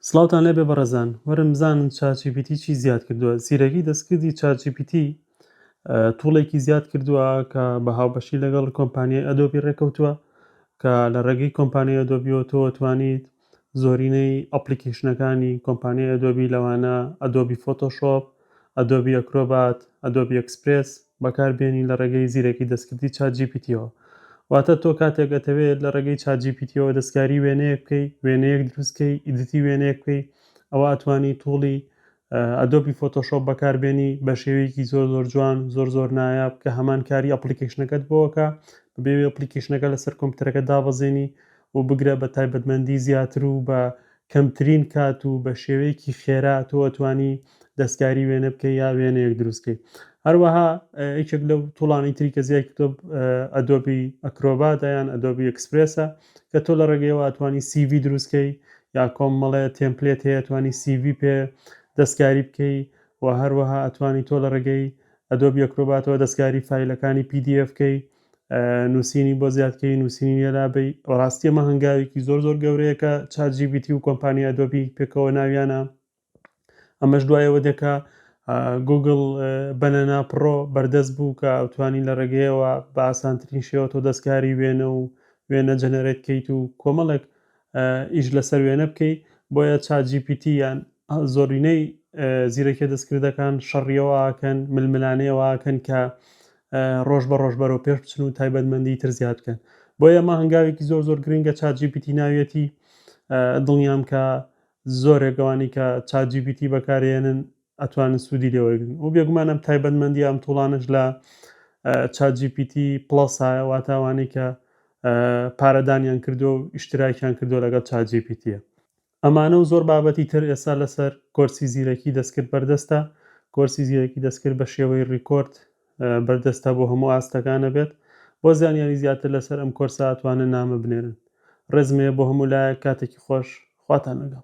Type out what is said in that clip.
سڵاوتان لێبێ بەڕێزان وەرن بزانن چات جی پی تی چی زیاد کردووە زیرەکی دەستکردی چات جی پی تی توڵێکی زیاد کردووە کە بە هاوبەشی لەگەڵ کۆمپانیای ئەدۆبی ڕێکەوتووە کە لە ڕێگەی کۆمپانیای ئەدۆبیەوە تۆ توانیت زۆرینەی ئەپلیکیشنەکانی کۆمپانیای ئەدۆبی لەوانە ئەدۆبی فۆتۆشۆپ Adobe Acrobat، Adobe Express، بەکار بێنی لە ڕێگەی زیرەکی دەستکردی چات جی پی تیەوە. واتە تۆ کاتێک ئەتەوێ لە ڕێگەی چات جی پی تیەوە دەستکاری وێنەیەک بکەی، وێنەیەک دروست کەی، ئیدیتی وێنەیەک بکەی، ئەوا ئەتوانی توڵی Adobe Photoshop بەکار بێنی بە شێوەیەکی زۆر زۆر جوان، زۆر زۆر نایاب کە هەمان کاری ئەپڵیکەیشنەکەت بۆ ئەکا، بەبێ ئەوی ئەپڵیکەیشنەکە لەسەر کۆمپیوتەرەکەت دابەزێنی و بگرە بە تایبەتمەندی زیاتر و بە کەمترین کات و بە شێوەیەکی خێرا تۆ ئەتوانی دەستکاری وێنە بکەی یا وێنەیەک دروست کەی هەروەها یەکێک لەو توڵانی تری کە زیای کردۆ ئەدۆبی ئەکرۆباتە یان ئەدۆبی ئەکسپرسە کە تۆ لە ڕێگەیەوە ئەتوانی سیV دروستکەی یا کۆمەڵێ تێمپلێت هەیە توانی سیV پێ دەستکاری بکەی و هەروەها ئەتوانی تۆ لە ڕێگەی ئەدۆبی ئەکرۆباتەوە دەستکاری فیلەکانی PDF کەی نووسینی بۆ زیادکەی نووسینی نێرابی ڕاستی ئەمە هەنگاوێکی زۆر زۆر گەورەیەکە چات جیبیتی و کۆمپانیا دۆبی پێکەوە ناویانە ئەمەش دوایەوە دەکا گوگل بەنەنا پڕۆ بەردەست بوو کە ئەوتوانی لە ڕێگەیەوە بە ئاسانترین شێوە تۆ دەستکاری وێنە و وێنە جەنەرێت کەیت و کۆمەڵێک ئیش لەسەر وێنە بکەی بۆیە چات جی پی تی یان زۆرینەی زیرەکیە دەستکردەکان شەڕیەوەکەن ململانەیەوەکەن کە ڕۆژ بە ڕۆژ بەرەو پێش بچن و تایبەتمەندی تر زیاد بکەن بۆ ئێمە هەنگاوێکی زۆر زۆر گرنگە چات جی پی تی ناویەتی دڵنیام کە زۆرێک گەوانی کە چات جی پی تی بەکارێنن ئەتوانن سوودی لێ وەرگرن و بێگومان ئەم تایبەتمەندییە ئەم تووڵانەش لە چات جی پی تی پڵەسایە واتە ئەوانەی کە پارە دانیان کردووە و ئیشتراکیان کردووە لەگەڵ چات جی پی تیە ئەمانە و زۆر بابەتی تر ئێستا لەسەر کۆرسی زیرەکی دەستکرد بەردەستە کۆرسی زیرەکی دەستکرد بە شێوەی ڕیکۆرد بەردەستە بۆ هەموو ئاستەکانە بێت بۆ زانیاری زیاتر لەسەر ئەم کۆرسە ئەتوانن نامە بنێرن ڕێزمەیە بۆ هەموو لایەک کاتێکی خۆش خواتان لەگەڵ